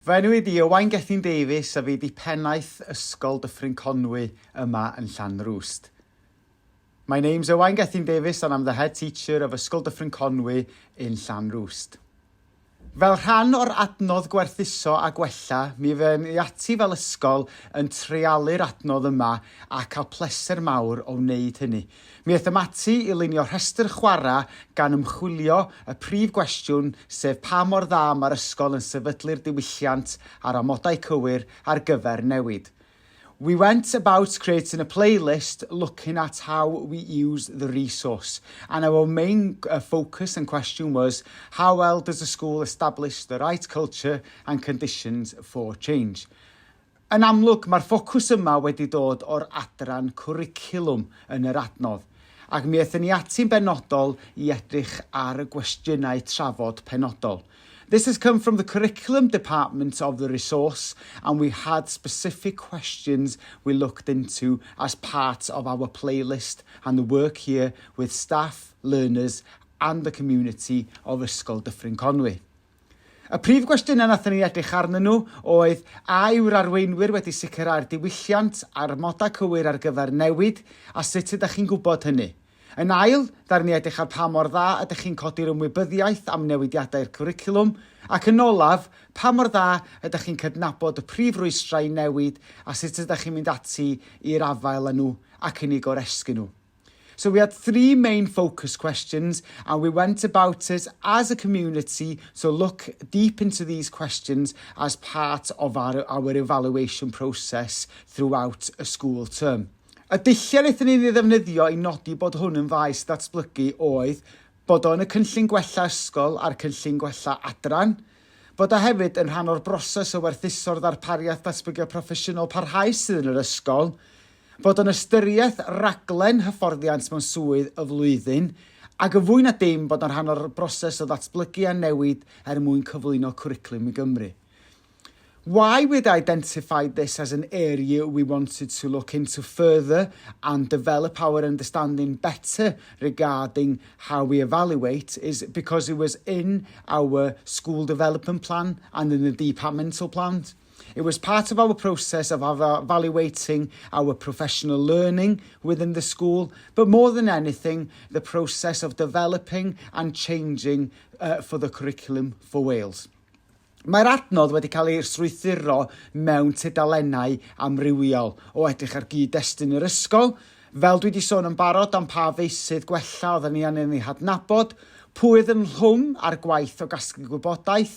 Fy enw i ydi Owain Gethin Davies a fi di pennaeth Ysgol Dyffryn Conwy yma yn Llanrwst. My name's Owain Gethin Davies and I'm the head teacher of Ysgol Dyffryn Conwy in Llanrwst. Fel rhan o'r adnodd gwerthuso a gwella, mi fy'n ni ati fel ysgol yn treialu'r adnodd yma a cael pleser mawr o wneud hynny. Mi aethom ati i lunio rhestr chwarae gan ymchwilio y prif gwestiwn sef pa mor dda mae'r ysgol yn sefydlu'r diwylliant a'r amodau cywir ar gyfer newid. We went about creating a playlist looking at how we use the resource and our main focus and question was how well does the school establish the right culture and conditions for change. Yn amlwg, mae'r ffocws yma wedi dod o'r adran cwricwlwm yn yr adnodd, ac mi aethon ni ati'n benodol i edrych ar y gwestiynau trafod penodol. This has come from the curriculum department of the resource and we had specific questions we looked into as part of our playlist and the work here with staff, learners and the community of Ysgol Dyffryn Conwy. Y prif gwestiynau nathon ni edrych arnyn nhw oedd, a yw'r arweinwyr wedi sicrhau'r diwylliant a'r amodau cywir ar gyfer newid, a sut ydych chi'n gwybod hynny? Yn ail, ddaru ni edrych ar pa mor dda ydych chi'n codi'r ymwybyddiaeth am newidiadau i'r cwricwlwm, ac yn olaf, pa mor dda ydych chi'n cydnabod y prif rwystrau i newid a sut ydych chi'n mynd ati i'r afael â nhw ac yn eu goresgyn nhw? So we had three main focus questions and we went about it as a community to look deep into these questions as part of our, our evaluation process throughout a school term. Y dulliau wnaethon ni ddefnyddio i nodi bod hwn yn faes ddatblygu oedd bod o'n y cynllun gwella ysgol a'r cynllun gwella adran, bod o hefyd yn rhan o'r broses o werthuso'r ddarpariaeth datblygiad proffesiynol parhaus sydd yn yr ysgol, fod yn ystyriaeth raglen hyfforddiant mewn swydd y flwyddyn, ac yn fwy na dim bod yn rhan o'r broses o ddatblygu a newid er mwyn cyflwyno cwricwlwm i Gymru. Why we'd identified this as an area we wanted to look into further and develop our understanding better regarding how we evaluate is because it was in our school development plan and in the departmental plans. It was part of our process of evaluating our professional learning within the school, but more than anything, the process of developing and changing uh, for the curriculum for Wales. Mae'r adnodd wedi cael ei strwythuro mewn tudalennau amrywiol o edrych ar gyd-destun yr ysgol, fel dwi wedi sôn yn barod am pa feisydd gwella oedden ni angen ei hadnabod, pwy oedd yn rhwng a'r gwaith o gasglu gwybodaeth,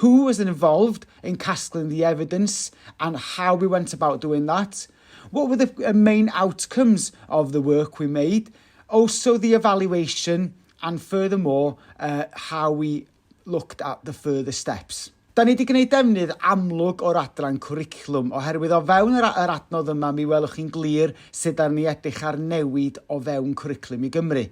Who was involved in casgling the evidence and how we went about doing that? What were the uh, main outcomes of the work we made? Also the evaluation and furthermore uh, how we looked at the further steps. Da ni wedi gwneud defnydd amlwg o'r adran cwricwlwm, oherwydd o fewn yr, yr adnodd yma mi welwch chi'n glir sut da ni edrych ar newid o fewn cwricwlwm i Gymru.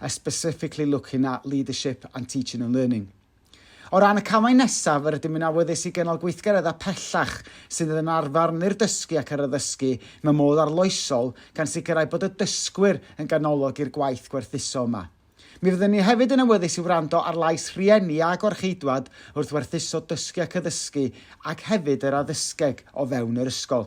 a specifically looking at leadership and teaching and learning. O ran y camau nesaf, yr ydym yn awyddus i gynnal gweithgareddau pellach sydd yn arfarnu'r dysgu ac yr addysgu mewn modd arloesol gan sicrhau bod y dysgwyr yn ganolog i'r gwaith gwerthuso yma. Mi fyddwn ni hefyd yn awyddus i wrando ar lais rhieni a gorcheidwad wrth werthuso dysgu ac addysgu ac hefyd yr addysgeg o fewn yr ysgol.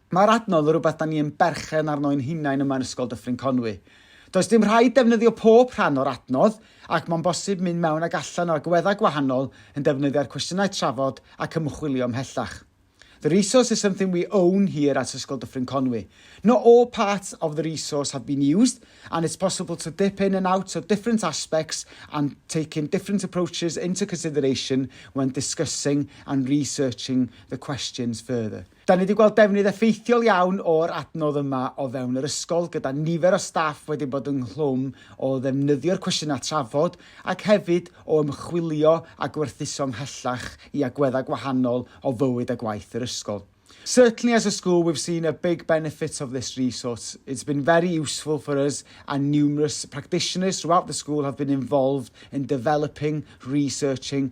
Mae'r adnodd yn rhywbeth da ni yn berchen arno ein hunain yma yn Ysgol Dyffryn Conwy. Does dim rhaid defnyddio pob rhan o'r adnodd ac mae'n bosib mynd mewn ac allan o agweddau gwahanol yn defnyddio'r cwestiynau trafod ac ymchwilio ymhellach. The resource is something we own here at Ysgol Dyffryn Conwy. Not all parts of the resource have been used and it's possible to dip in and out of different aspects and taking different approaches into consideration when discussing and researching the questions further. Da ni wedi gweld defnydd effeithiol iawn o'r adnodd yma o fewn yr ysgol gyda nifer o staff wedi bod ynghlwm o ddefnyddio'r cwestiynau trafod ac hefyd o ymchwilio a gwerthuso ymhellach i agweddau gwahanol o fywyd a gwaith yr ysgol. Certainly as a school we've seen a big benefit of this resource, it's been very useful for us and numerous practitioners throughout the school have been involved in developing, researching